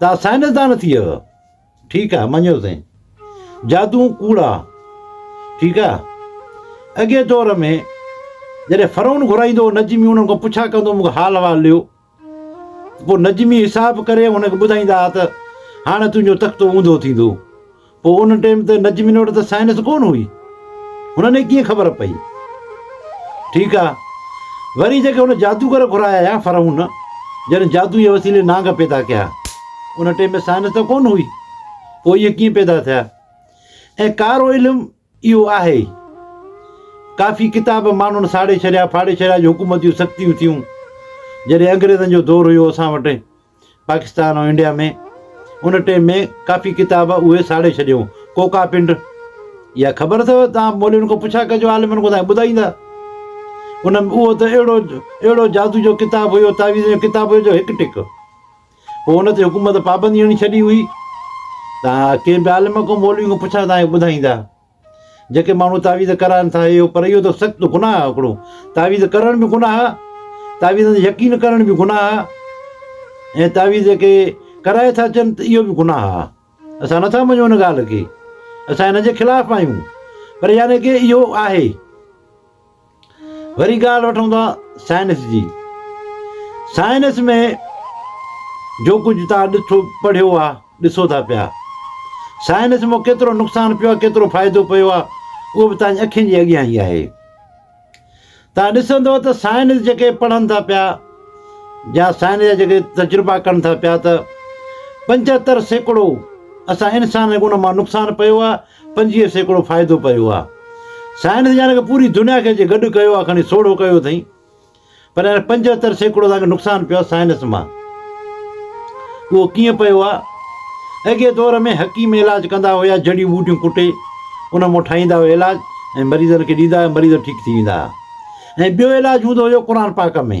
توهان سائنسدان ٿي ويو ٺيڪ آهي مڃيو سائين جادو ڪوڙا ٺيڪ آهي اڳي دور ۾ جڏهن فرعون گهرائيندو هو نجمي انهن کان پڇا ڪندو مونکي حال احوال ڏيو پوء نجمي حساب ڪري هن کي ٻڌائيندا ته هاڻي تنهنجو تختو اونڌو ٿيندو پوء ان ٽيم ته نجمين وٽ ته سائنس ڪونه هئي، هنن کي ڪيئن خبر پئي؟ ٺيڪ آ، وري جيڪي هن جادوگر گهرايا هيا فرعون جن جادو جي وسيلي نانگ پيدا ڪيا، ان ٽيم ۾ سائنس ته ڪونه هئي، پوء اهي ڪيئن پيدا ٿيا؟ ۽ ڪارو علم اهو آهي ئي. ڪافي ڪتاب ماڻهن ساڙي ڇڏيا، ڦاڙي ڇڏيا جو حڪومت جون سختيون ٿيون. جڏهن انگريزن جو دور هيو اسان وٽ پاڪستان ۽ انڊيا ۾ ان ٽئين ۾ ڪافي ڪتاب اهي ساڙي ڇڏيون. ڪوڪا پنڊ اها خبر اٿو توهان مولوين کان پڇا ڪجو عالمن کان توهان کي ٻڌائيندا. ان ۾ اهو ته اهڙو اهڙو جادو جو ڪتاب هيو تعويذن جو ڪتاب هيو جو هڪ ٽڪ. پوء ان تي حڪومت پابندي هڻي ڇڏي هئي. تان ڪي به عالم ڪو مولوي کان پڇا تان اهو ٻڌائيندا. جيڪي ماڻهو تعويذ ڪرائن ٿا اهو پر اهو ته سخت گناهه آهي هڪڙو تعويذ ڪرڻ به گناهه آهي تعويذن تي يقين ڪرڻ به گناهه آهي ۽ تعويذ جيڪي ڪرائي ٿا اچن ته اهو به گناهه آهي اسان نٿا مڃون ان ڳالهه کي اسان ان جي خلاف آهيون پر يعني ڪي اهو آهي. وري ڳالهه وٺون ٿا سائنس جي. سائنس ۾ جو ڪجهه توهان ڏٺو پڙهيو آهي، ڏسو ٿا پيا. سائنس مان ڪيترو نقصان پيو آهي، ڪيترو فائدو پيو آهي، اهو به توهان جي اکين جي اڳيان ئي آهي. توهان ڏسندو ته سائنس جيڪي پڙهن ٿا پيا يا سائنس جا جيڪي تجربا ڪن ٿا پيا ته پنجهتر سيڪڙو اسان انسانن کي ان مان نقصان پيو آهي، پنجويهه سيڪڙو فائدو پيو آ. سائنس جا رڳ پوري دنيا کي جي گڏ ڪيو آ کڻي سوڙهو ڪيو اٿئين پر هن پنجهتر سيڪڙو اسان کي نقصان پيو آ سائنس مان اهو ڪيئن پيو آ اڳئين دور ۾ حڪيم علاج ڪندا هيا جڙيون ٻوٽيون ڪٽي ان مون ٺاهيندا هيا علاج ۽ مريضن کي ڏيندا هيا مريض ٺيڪ ٿي ويندا هيا ۽ ٻيو علاج هوندو هيو قرآن پاڪ ۾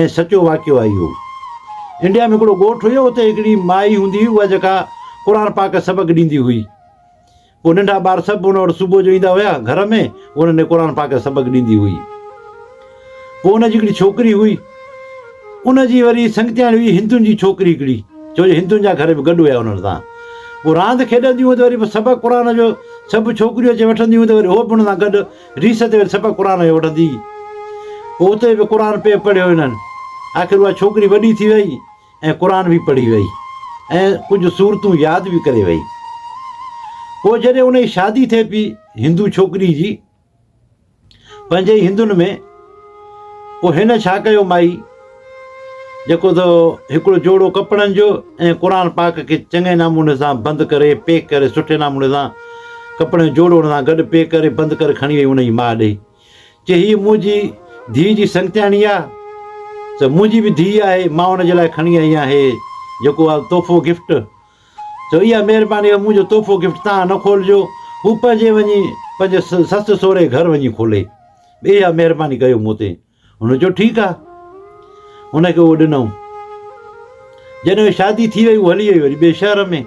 ۽ سچو واقعو آهي اهو. انڊيا ۾ هڪڙو ڳوٺ هيو اتي هڪڙي مائي هوندي هئي اها جيڪا قرآن پاڪ سبق ڏيندي هئي پوء ننڍا ٻار سڀ ان وٽ صبح جو ايندا هيا گهر ۾ هو انهن کي قرآن پاڪ سبق ڏيندي هئي پوء ان جي هڪڙي ڇوڪري هئي ان جي وري سنگتياڻي هئي هندن جي ڇوڪري هڪڙي ڇو جو هندن جا گهر به گڏ هيا انهن سان پوء راند کيڏنديون هيون ته وري سبق قرآن جو سڀ ڇوڪريون اچي وٺنديون هيون ته وري هو به ان سان گڏ ريس تي وڃي سبق قرآن جو وٺندي هئي. اتي به قرآن پئي پڙهيو هنن. آخر اها ڇوڪري وڏي ٿي وئي ۽ قرآن به پڙهي وئي ۽ ڪجهه سورتون ياد به ڪري وئي. پوء جڏهن ان جي شادي ٿئي پي هندو ڇوڪري جي پنهنجي ئي هندن ۾، پوء هن ڇا ڪيو مائي؟ جيڪو ته هڪڙو جوڙو ڪپڙن جو ۽ قرآن پاڪ کي چڱي ناموني سان بند ڪري پيڪ ڪري سٺي ناموني سان ڪپڙن جو جوڙو ان سان گڏ پيڪ ڪري بند ڪري کڻي وئي ان جي ماء ڏي چي هيء منهنجي ڌيء جي سنگتياڻي آ ته منهنجي به ڌيء آهي مان ان جي لاء کڻي آئي آهيان هي جيڪو آ تحفو گفٽ چو اها مهرباني آهي منهنجو تحفو گفٽ تان نه کولجو هو پنهنجي وڃي پنهنجي سس سوري گهر وڃي کولي اها مهرباني ڪيو مون تي هن چيو ٺيڪ آ. هن کي اهو ڏنائون. جڏهن شادي ٿي وئي هو هلي وئي وري ٻئي شهر ۾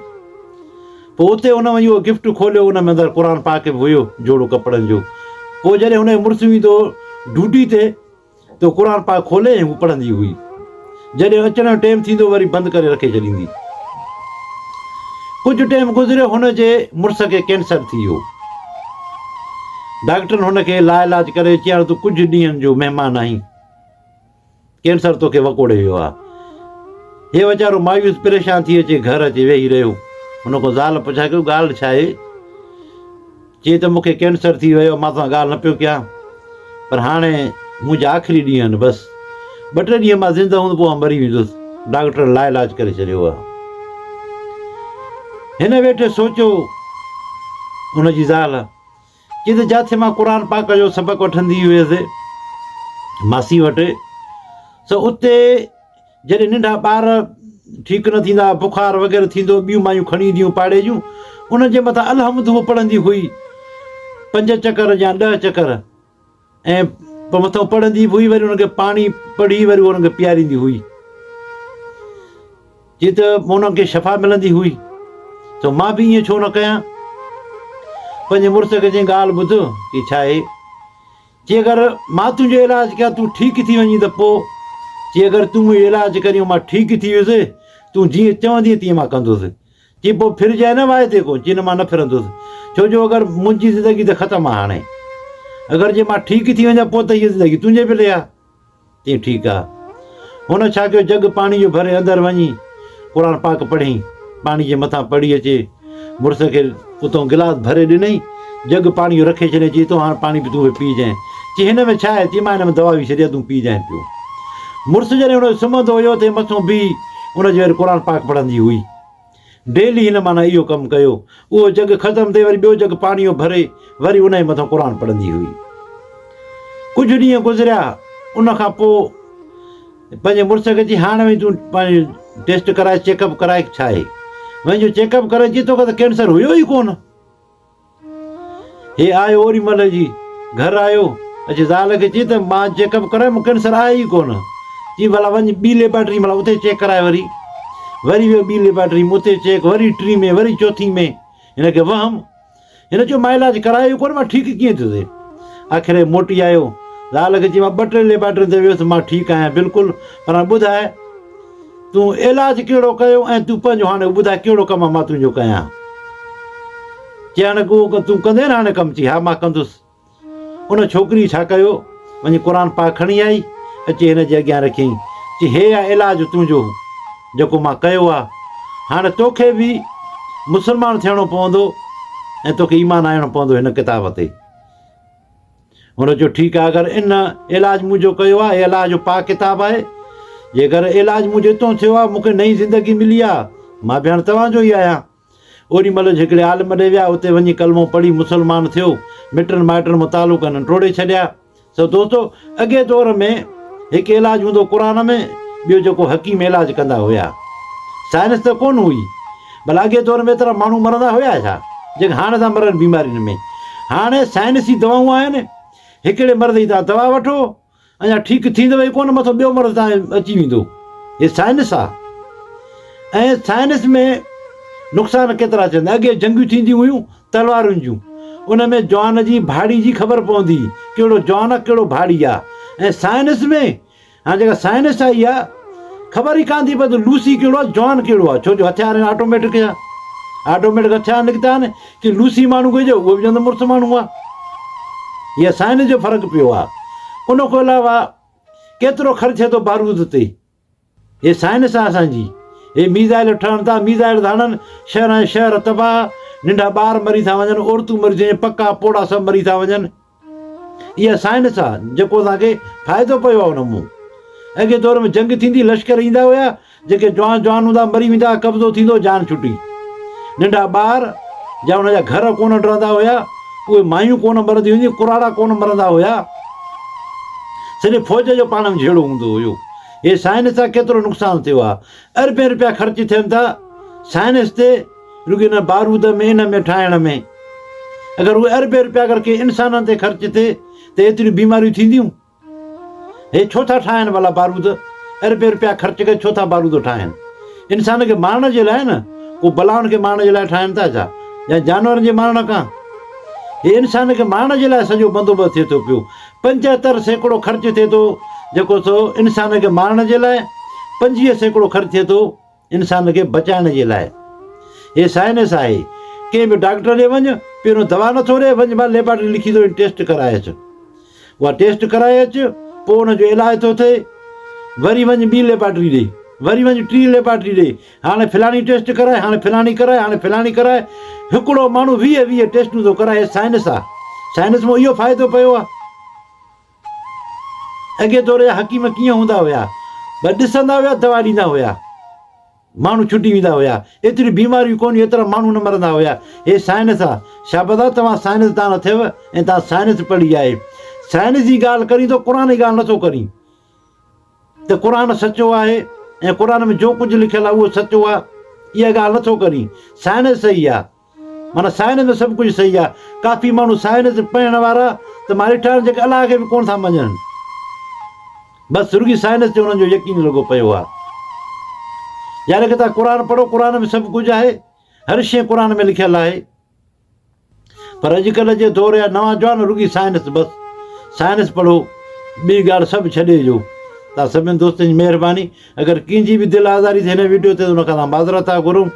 پوء اتي هن وڃي اهو گفٽ کوليو ان ۾ اندر قرآن پاڪ به هيو جوڙو ڪپڙن جو پوء جڏهن هن جو مڙس ويندو هو ڊوٽي تي ته قرآن پاڪ کولي ۽ هو پڙهندي هئي. جڏهن اچڻ جو ٽيم ٿيندو وري بند ڪري رکي ڇڏيندي. ڪجهه ٽيم گذريو هن جي مڙس کي ڪينسر ٿي ويو. ڊاڪٽرن هن کي لاعلاج ڪري چيائين تون ڪجهه ڏينهن جو مهمان آهين. ڪينسر توکي وڪوڙي ويو آهي. هي ويچارو مايوس پريشان ٿي اچي گهر اچي ويهي رهيو. هن کان زال پڇا ڪيو ڳالهه ڇا آهي؟ چي ته مون کي ڪينسر ٿي ويو مان سان ڳالهه نه پيو ڪيان پر هاڻي منهنجا آخري ڏينهن آهن بس ٻه ٽي ڏينهن مان زنده هوندو پوء مري ويندس ڊاڪٽر لا علاج ڪري ڇڏيو آهي هن ويٺ سوچيو ان جي زال چي ته جاٿي مان قرآن پاڪ جو سبق وٺندي هيس ماسي وٽ سو اتي جڏهن ننڍا ٻار ٺيڪ نه ٿيندا، بخار وغيره ٿيندو، ٻيون مايون کڻي اينديون پاڙي جون، انهن جي مٿان الحمد هوء پڙهندي هئي، پنج چڪر يا ڏهه چڪر، ۽ پوء مٿئون پڙهندي به هئي، وري انهن کي پاڻي پڙهي وري انهن کي پياريندي هئي، جي ته انهن کي شفا ملندي هئي، ته مان به ائين ڇو نه ڪيان، پنهنجي مڙس کي چيائين ڳالهه ٻڌ، چي ڇا آهي؟ چي اگر مان تنهنجو علاج ڪيان تون ٺيڪ ٿي وڃين ته پوء؟ چي اگر تون منهنجو علاج ڪرين مان ٺيڪ ٿي ويس، تون جيئن چوندين تيئن مان ڪندس. چي پوء ڦرجانء نه واعدي کان؟ چي نه مان نه ڦرندس، ڇو جو اگر منهنجي زندگي ته ختم آ هاڻي. اگر جي مان ٺيڪ ٿي وڃان پوء ته هيء زندگي تنهنجي پلي آ. تي ٺيڪ آ. هن ڇا ڪيو جڳ پاڻي جو ڀري اندر وڃي قرآن پاڪ پڙهين پاڻي جي مٿان پڙهي اچي مڙس کي اتون گلاس ڀري ڏنئي جڳ پاڻي جو رکي ڇڏيائين چي تو هاڻ پاڻي به تون به پي جانء چي هن ۾ ڇا آهي چي مان هن ۾ دوا وي ڇڏي آ تون پي جانء پيو مڙس جڏهن هن جو سمهندو هيو تي مٿو بيهي ان جي وري قرآن پاڪ پڙهندي هئي. ڊيلي هن معنيٰ اهو ڪم ڪيو. اهو جڳ ختم ٿئي وري ٻيو جڳ پاڻيء ڀري وري ان جي مٿان قرآن پڙهندي هئي. ڪجهه ڏينهن گذريا ان کان پوء پنهنجي مڙس کي چي هاڻ وڃ تون پنهنجو ٽيسٽ ڪرائي چيڪ اپ ڪرائي ڇا آهي. وڃ جو چيڪ اپ ڪرائي چي توکي ته ڪينسر هيو ئي ڪونه. هي آهي اوري ملهه جي گهر آيو. اچي زال کي چي ته مان چيڪ اپ ڪرايو مون ڪينسر آهي ئي ڪونه. چي ڀلا وڃ ٻي ليبارٽري ۾ اتي چيڪ ڪراء وري. وري ويو ٻي ليبارٽري ۾ اتي چيڪ وري ٽين ۾ وري چوٿين ۾ هن کي وهم. هن چيو مان علاج ڪرايو ئي ڪونه مان ٺيڪ ڪيئن ٿيو سي. آخر هي موٽي آيو زال کي چي مان ٻه ٽي ليبارٽرين تي ويس مان ٺيڪ آهيان بلڪل پر هاڻي ٻڌاء تون علاج ڪهڙو ڪيو ۽ تون پنهنجو هاڻي ٻڌاء ڪهڙو ڪم مان تنهنجو ڪيان؟ چيائين اگهو اگهو تون ڪندين هاڻي ڪم چي ها مان ڪندس. ان ڇوڪري ڇا ڪيو وڃي قرآن پاڪ کڻي آئي اچي هن جي اڳيان رکيائين چي هي آ علاج تنهنجو جيڪو مان ڪيو آ هاڻي توکي به مسلمان ٿيڻو پوندو ۽ توکي ايمان آڻڻو پوندو هن ڪتاب تي. هن چيو ٺيڪ آهي اگر ان علاج منهنجو ڪيو آهي هي الله جو پاڪ ڪتاب آهي جيڪر علاج منهنجو هتو ٿيو آهي مونکي نئين زندگي ملي آهي مان به هاڻي توهان جو ئي آهيان اوڏي مهل هڪڙي عالم ڏي ويا اتي وڃي ڪلمو پڙهي مسلمان ٿيو مٽن مائٽن مان تعلق هنن ٽوڙي ڇڏيا سو دوستو اڳي دور ۾ هڪ علاج هوندو قرآن ۾ ٻيو جيڪو حڪيم علاج ڪندا هيا سائنس ته ڪونه هئي ڀلاڳي دور ۾ ايترا ماڻهو مرندا هيا ڇا جيڪا هاڻي ٿا مرن بيمارين ۾. هاڻي سائنسي دوائون آهن، هڪڙي مرض جي توهان دوا وٺو اڃا ٺيڪ ٿيندو ئي ڪونه مٿو ٻيو مرض توهان کي اچي ويندو. هي سائنس آ ۽ سائنس ۾ نقصان ڪيترا ٿيندا. اڳي جنگيون ٿينديون هيون تلوارن جون ان ۾ جوان جي ڀاڙي جي خبر پوندي هئي ڪهڙو جوان آ ڪهڙو ڀاڙي آ ۽ سائنس ۾ هاڻي جيڪا سائنس آئي آهي، خبر ئي ڪانه ٿي پئي ته لوسي ڪهڙو آهي جان ڪهڙو آهي، ڇو جو هٿيار هن آٽوميٽڪ هيا، آٽوميٽڪ هٿيار نڪتا آهن، ڪي لوسي ماڻهو گهرجي اهو به چوندو مڙس ماڻهو آهي. هيء سائنس جو فرق پيو آهي. ان کان علاوه ڪيترو خرچ ٿئي ٿو بارود تي، هيء سائنس آهي اسان جي. هي ميزائيل ٺهن ٿا، ميزائيل ٿا هڻن، شهران جا شهر تباهه، ننڍا ٻار مري ٿا وڃن، عورتون مري ٿيون وڃن، پڪا پوڙها سڀ مري ٿا وڃن. اها سائنس آ جيڪو اسان کي فائدو پيو آ ان مون اڳي دور ۾ جنگ ٿيندي لشڪر ايندا هيا جيڪي جوان جوان هوندا مري ويندا قبضو ٿيندو جان ڇٽي ننڍا ٻار جا ان جا گهر ڪونه ڊرندا هيا اهي مايون ڪونه مرندي هيون ڪراڙا ڪونه مرندا هيا سڄي فوج جو پاڻ ۾ جهيڙو هوندو هيو هي سائنس آ ڪيترو نقصان ٿيو آ اربين روپيا خرچ ٿين ٿا سائنس تي رڳو ان بارود ۾ ان ۾ ٺاهڻ ۾. اگر اهي اربين رپيا اگر ڪنهن انسانن تي خرچ ٿئي ته ايتريون بيماريون ٿينديون؟ هي ڇو ٿا ٺاهن ڀلا بارود؟ اربين رپيا خرچ ڪري ڇو ٿا بارود ٺاهن؟ انسان کي مارڻ جي لاء نه؟ ڪو بلائن کي مارڻ جي لاء ٺاهن ٿا ڇا؟ يا جانورن جي مارڻ ڪا؟ هي انسان کي مارڻ جي لاء سڄو بندوبست ٿئي ٿو پيو. پنجهتر سيڪڙو خرچ ٿئي ٿو جيڪو سو انسان کي مارڻ جي لاء، پنجويهه سيڪڙو خرچ ٿئي ٿو انسان کي بچائڻ جي لاء هي سائنس آهي، ڪنهن به ڊاڪٽر ڏي وڃ، پهريون دوا نٿو ڏئي، وڃ ڀا ليبارٽري لکي ٿو ڏين ٽيسٽ ڪرائي اچ، اها ٽيسٽ ڪرائي اچ، پوء ان جو علاج ٿو ٿئي، وري وڃ ٻي ليبارٽري ڏي، وري وڃ ٽين ليبارٽري ڏي، هاڻي فلاڻي ٽيسٽ ڪرائي، هاڻي فلاڻي ڪرائي، هاڻي فلاڻي ڪرائي، هڪڙو ماڻهو ويهه ويهه ٽيسٽون ٿو ڪرائي، هي سائنس آ، سائنس مان اهو فائدو پيو آ. اڳئين دور جا حڪيم ڪيئن هوندا هيا بس ڏسندا هيا دوا ڏيندا هيا ماڻهو ڇٽي ويندا هيا ايتريون بيماريون ڪونهيون ايترا ماڻهو نه مرندا هيا هي سائنس آ شابس آ توهان سائنس دان اٿيو ۽ توهان سائنس پڙهي آهي سائنس جي ڳالهه ڪرين ٿو قرآن جي ڳالهه نٿو ڪرين ته قرآن سچو آهي ۽ قرآن ۾ جو ڪجهه لکيل آهي اهو سچو آهي اها ڳالهه نٿو ڪرين سائنس صحيح آهي معنيٰ سائنس ۾ سڀ ڪجهه صحيح آهي. ڪافي ماڻهو سائنس پڙهڻ وارا ته مارئي ٺاهن جيڪي الله کي به ڪونه ٿا مڃن. بس رڳي سائنس تي انهن جو يقين لڳو پيو آهي. يار اڳي تان قرآن پڙهو قرآن ۾ سڀ ڪجهه آهي. هر شيء قرآن ۾ لکيل آهي. پر اڄڪلهه جي دور جا نوان جوان رڳي سائنس بس سائنس پڙهو ٻي ڳالهه سڀ ڇڏي جو. توهان سڀني دوستن جي مهرباني اگر ڪنهن جي به دل آزاري ٿي هن ويڊيو تي ته ان کان اسان معذرت ٿا گهرون.